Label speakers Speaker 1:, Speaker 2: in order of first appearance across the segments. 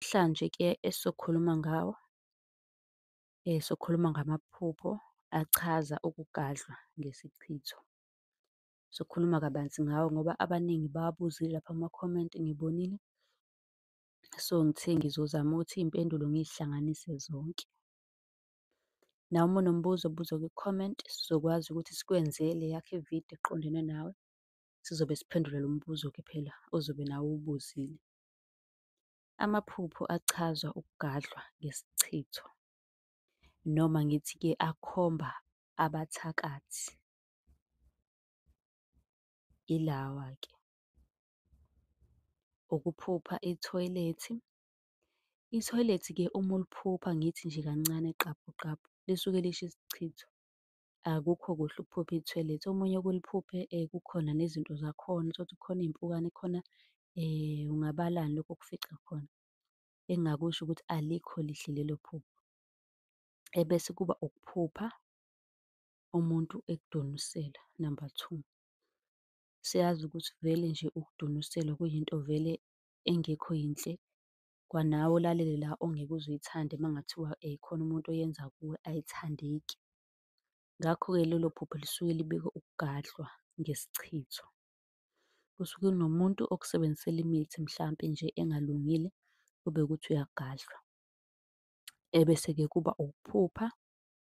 Speaker 1: Namhlanje ke esizokhuluma ngawo, sokhuluma ngamaphupho achaza ukugadlwa ngesichitho. Sokhuluma kabanzi ngawo ngoba abaningi bawabuzile lapha kumakhomenti ngibonile. So, ngithe ngizozama ukuthi iy'mpendulo ngiy'hlanganise zonke. Nawe uma unombuzo buza kwikhomenti, sizokwazi ukuthi sikwenze leyakho ividiyo eqondene nawe. Sizobe siphendula lo mbuzo-ke phela ozobe nawe uwubuzile. Amaphupho achazwa ukugadlwa ngesichitho noma ngithi-ke akhomba abathakathi. Ilawa-ke, ukuphupha ithoyilethi. Ithoyilethi-ke uma uliphupha ngithi nje kancane qabu qabu, lisuke lisho isichitho. Akukho kuhle ukuphupha ithoyilethi. Omunye oke uliphuphe kukhona nezinto zakhona, uthole ukuthi kukhona iy'mpukane, kukhona ungabalani lokhu okufica khona. Engingakusho ukuthi alikho lihle lelo phupho. Ebese kuba ukuphupha umuntu ekudonusela, number two. Siyazi ukuthi vele nje ukudonuselwa kuyinto vele engekho yinhle kwanawe olalele la ongeke uze uyithande uma kungathiwa khona umuntu oyenza kuwe ayithandeki. Ngakho-ke lelo phupho lisuke libika ukugadlwa ngesichitho. Kusuke kunomuntu okusebenzisela imithi mhlampe nje engalungile, kube ukuthi uyagadlwa. Ebese-ke kuba ukuphupha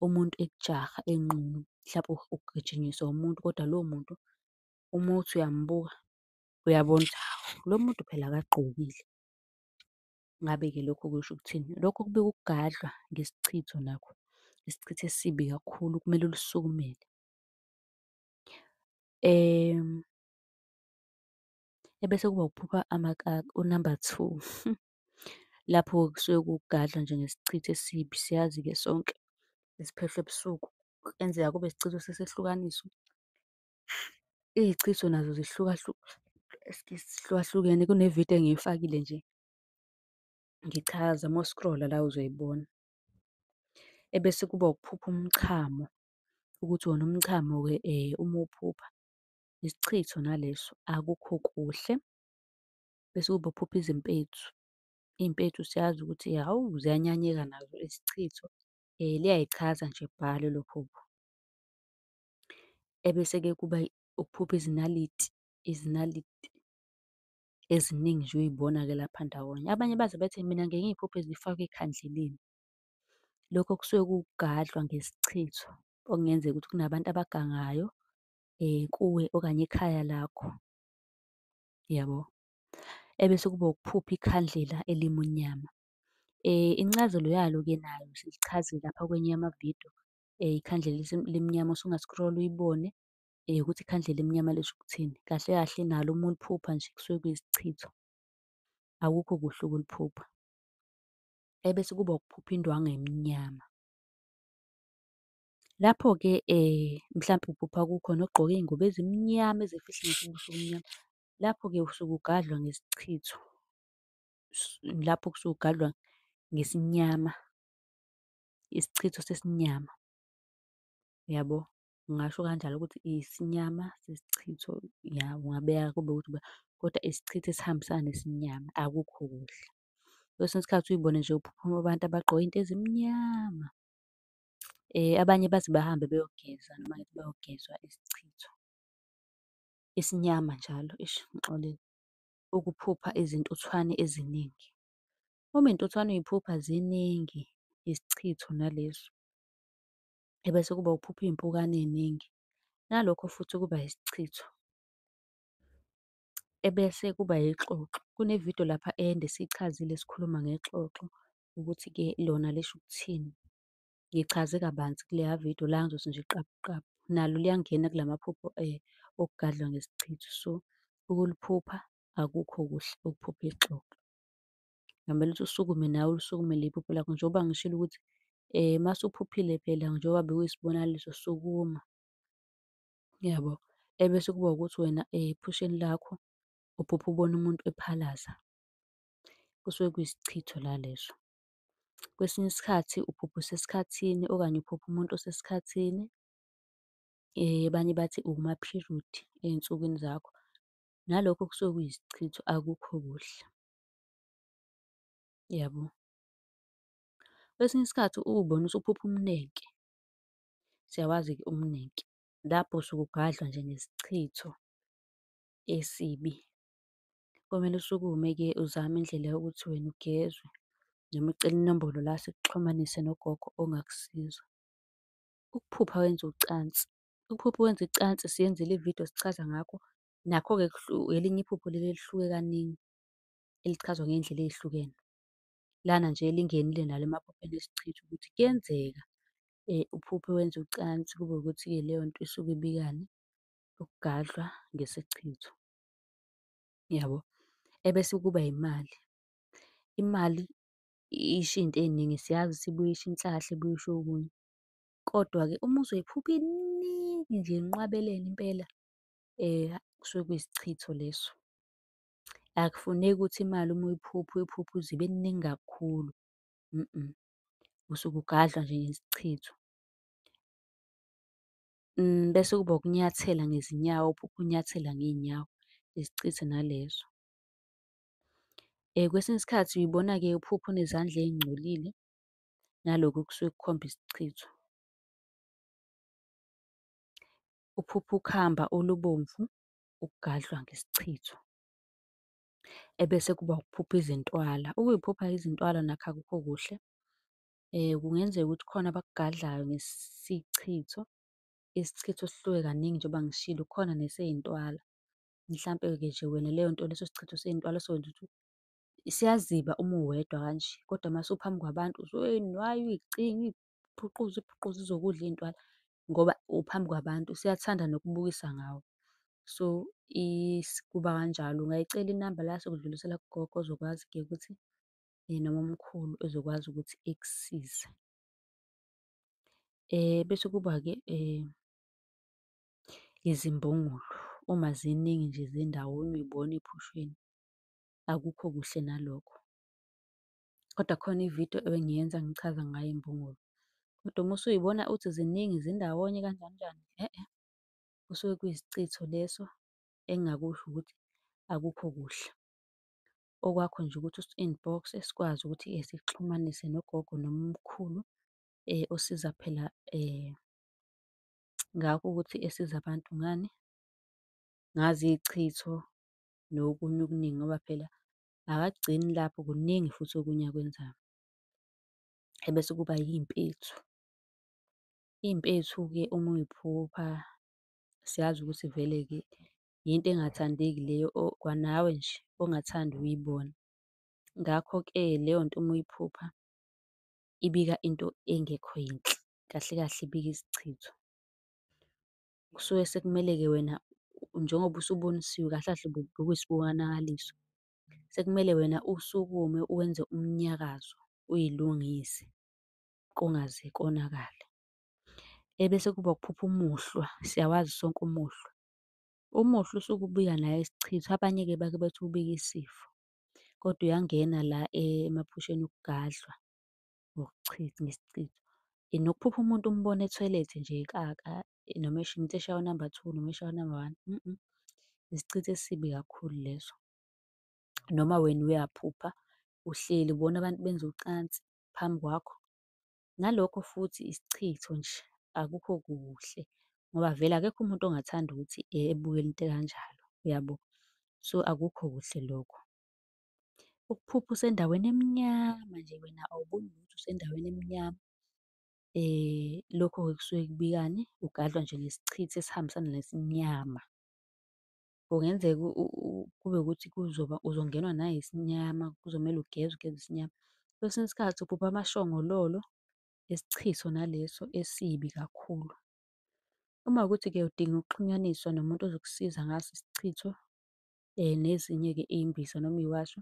Speaker 1: umuntu ekujaha enqunu, mhlampe ugijinyiswa umuntu kodwa lowo muntu uma uthi uyambuka, uyabona ukuthi hhawu, lo muntu phela akagqokile. Ngabe-ke lokho kusho ukuthini? Lokho kubika ukugadlwa ngesichitho nakho, isichitho esibi kakhulu okumele ulisukumele. Ebese kuba ukuphupha amakaka, unamba two. Lapho kusuke kugadlwa nje ngesichitho esibi, siyazi-ke sonke esiphehlwa ebusuku, kuyenzeka kube isichitho sesehlukaniso. Izichitho nazo zihlukahlukene kune-video engiyifakile nje ngichaza uma u-scroll-a la uzoyibona. Ebese kuba ukuphupha umchamo, ukuthi wona umchamo-ke uma uwuphupha isichitho naleso akukho kuhle. Bese kuba ukuphupha izimpethu, iy'mpethu siyazi ukuthi hhawu ziyanyanyeka nazo izichitho liyayichaza nje bhalo elo phupho. Ebese-ke kuba ukuphupha izinaliti, izinaliti eziningi nje uy'bona-ke lapha ndawonye. Abanye baze bethi mina ngiye ngiy'phuphe zifakwe ekhandleleni. Lokho kusuke kuwukugadlwa ngesichitho, okungenzeka ukuthi kunabantu abagangayo kuwe okanye ekhaya lakho, yabo. Ebese kuba ukuphupha ikhandlela elimunyama. Incazelo yalo-ke nayo silichazile lapha kwenye yamavidiyo, ikhandlela elimnyama usunga-scroll-a uyibone ukuthi ikhandlela elimnyama lisho ukuthini. Kahle kahle nalo uma uliphupha nje kusuke kuyisichitho, akukho kuhle ukuliphupha. Ebese kuba ukuphupha indwangu emnyama. Lapho-ke mhlampe uphupha kukhona ogqoke iy'ngubo ezimnyama ezifihla ngisho ubuso obumnyama. Lapho-ke usuke ugadlwa ngesichitho, lapho kusuke ugadlwa ngesinyama. isichitho sesinyama. Uyabo? Ngingasho kanjalo ukuthi isinyama sesichitho, ya ungabeka kube ukuthi uba kodwa isichitho esihambisana nesinyama akukho kuhle. Kwesinye isikhathi uyibone nje kuphuphuma abantu abagqoke iy'nto ezimnyama. Abanye bathi bahambe beyogeza noma ngithi bayogezwa isichitho esinyama njalo, eish ngixolile, ukuphupha izintuthwane eziningi. Uma intuthwane uyiphupha ziningi isichitho nalezo. Ebese kuba uphupha iy'mpukane ey'ningi, nalokho futhi kuba isichitho. Ebese kuba ixoxo, kune-video lapha ende sichazile sikhuluma ngexoxo ukuthi-ke lona lisho ukuthini. Ngichaze kabanzi kuleya video la ngizothi nje qabu qabu. Nalo liyangena kula maphupho okugadlwa ngesichitho. So, ukuliphupha akukho kuhle ukuphupha ixoxo. Kungamele ukuthi usukume nawe ulisukumele iphupho lakho njengoba ngishilo ukuthi uma usuphuphile phela njengoba bekuyisibonakaliso sukuma, yabo. Ebese kuba ukuthi wena ephusheni lakho uphupha ubona umuntu ephalaza, kusuke kuyisichitho la leso. Kwesinye isikhathi uphupha usesikhathini okanye uphupha umuntu osesikhathini, abanye bathi uwumaphirithi ey'nsukwini zakho. nalokho kusuke kuyisichitho akukho kuhle. Yabo? Kwesinye isikhathi uwubona usuphupha umnenke, siyawazi-ke umnenke, lapho usuke ugadlwa nje ngesichitho esibi. Komele usukume-ke uzame indlela yokuthi wena ugezwe, noma ucele inombolo la sikuxhumanise nogogo ongakusiza. Ukuphupha wenza ucansi Iphupho wenza icansi siyenzile ividiyo sichaza ngakho. Nakho-ke elinye iphupho leli elihluke kaningi, elichazwa ngey'ndlela ey'hlukene. Lana nje lingenile nalo emaphupheni esichitha ukuthi kuyenzeka uphuphe wenza ucansi kube ukuthi-ke leyo nto isuke ibikani? Ukugadlwa ngesichitho, yabo? Ebese kuba imali, imali isho iy'nto ey'ningi siyazi ukuthi ibuye isho inhlahla, ibuye isho okunye. Kodwa-ke uma uzoyiphupha iningi nje inqwabelene impela kusuke kuyisichitho leso. Akufuneki ukuthi imali uma uyiphupha uyiphuphe uze ibe ningi kakhulu, usuke ugadla nje ngesichitho. Bese kuba ukunyathela ngezinyawo, uphuphe unyathela ngey'nyawo, isichitho naleso. Kwesinye isikhathi uy'bona-ke uphupha unezandla ey'ngcolile, naloko okusuke kukhomba isichitho. Uphupha ukhamba olubomvu ukugadlwa ngesichitho. Ebese kuba ukuphupha izintwala, ukuyiphupha izintwala nakho akukho kuhle. Kungenzeka ukuthi khona abakugadlayo ngesichitho, isichitho sihluke kaningi njengoba ngishilo, khona neseyintwala. Mhlampe-ke nje wena leyo nto leso sichitho seyintwala sokwenza ukuthi Siyaziba uma uwedwa kanje, kodwa uma usuphambi kwabantu usuke uyinywaye, uyicinge, uyiphuquze, uyiphuquze ize ikudle iy'ntwala ngoba uphambi kwabantu. Siyathanda nokubukisa ngawe. So, kuba kanjalo. Ungayicela inamba la sokudlulisela kugogo ozokwazi-ke ukuthi noma umkhulu ezokwazi ukuthi ekusize. Bese kuba-ke izimbongolo, uma ziningi nje zindawo uma uy'bona ey'phusheni. akukho kuhle nalokho. Kodwa khona ividiyo ebengiyenza ngichaza ngayo imbungulu. Kodwa uma usuyibona uthi ziningi zindawonye kanjani njani, e-e, kusuke kuyisichitho leso engingakusho ukuthi akukho kuhle. Okwakho nje ukuthi usi-inbox sikwazi ukuthi sikuxhumanise nogogo noma umkhulu osiza phela ngakho ukuthi esiza abantu ngani, ngazo iy'chitho nokunye okuningi ngoba phela akagcini lapho kuningi futhi okunye akwenzayo. Ebese kuba iy'mpethu. Iy'mpethu-ke uma uy'phupha siyazi ukuthi vele-ke yinto engathandeki leyo kwanawe nje ongathandi ukuyibona. Ngakho-ke leyo nto uma uyiphupha ibika into engekho yinhle, kahle kahle ibika isichitho. kusuke sekumele-ke wena njengoba usubonisiwe kahle kahle bokuyisibonakaliso. Sekumele wena usukume uwenze umnyakazo uyilungise kungaze konakale. Ebese kuba ukuphupha umuhlwa, siyawazi sonke umuhlwa. Umuhlwa usuke ubika naye isichitho, abanye-ke bake bethi ubika isifo, kodwa uyangena la emaphusheni okugadlwa. ngokuchitha ngesichitho. Nokuphupha umuntu umbone ethoyilethe nje ekaka noma esho umuntu eshaya unamba two noma eshaya unamba one isichitho esibi kakhulu leso. Noma wena uyaphupha uhleli ubona abantu benza ucansi phambi kwakho, nalokho futhi isichitho nje, akukho kuhle ngoba vele akekho umuntu ongathanda ukuthi ebukele into ekanjalo, uyabo? So, akukho kuhle lokho. Ukuphupha usendaweni emnyama nje wena awuboni lutho usendaweni emnyama. Lokho-ke kusuke kubikani? Ugadlwa nje ngesichithi esihambisana nesinyama. Kungenzeka kube ukuthi kuzoba uzongenwa nayisinyama, kuzomele ugeze ugeze isinyama. Kwesinye isikhathi uphupha amashongololo, isichithi sona leso esibi kakhulu. Uma kuwukuthi-ke udinga ukuxhunyaniswa nomuntu ozokusiza ngaso isichitho, um nezinye-ke iy'mbiza noma iy'washo,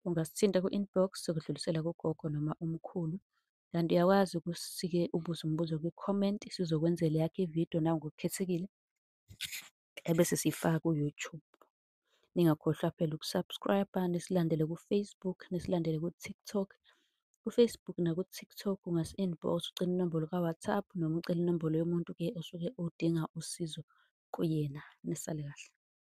Speaker 1: ungasithinta ku-inbox sokudlulisela kugogo noma umkhulu. Kanti uyakwazi ukusike ubuze umbuzo kwi-comment, sizokwenzela eyakho ividiyo nawe ngokukhethekile, ebese siyifaka ku-YouTube. Ningakhohlwa phela uku-subscribe-a, nisilandele ku-Facebook, nisilandele ku-TikTok. KuFacebook naku-TikTok ungasi-inbox ucela inombolo ka-WhatsApp noma ucele inombolo yomuntu-ke osuke udinga usizo kuyena. Nisale kahle.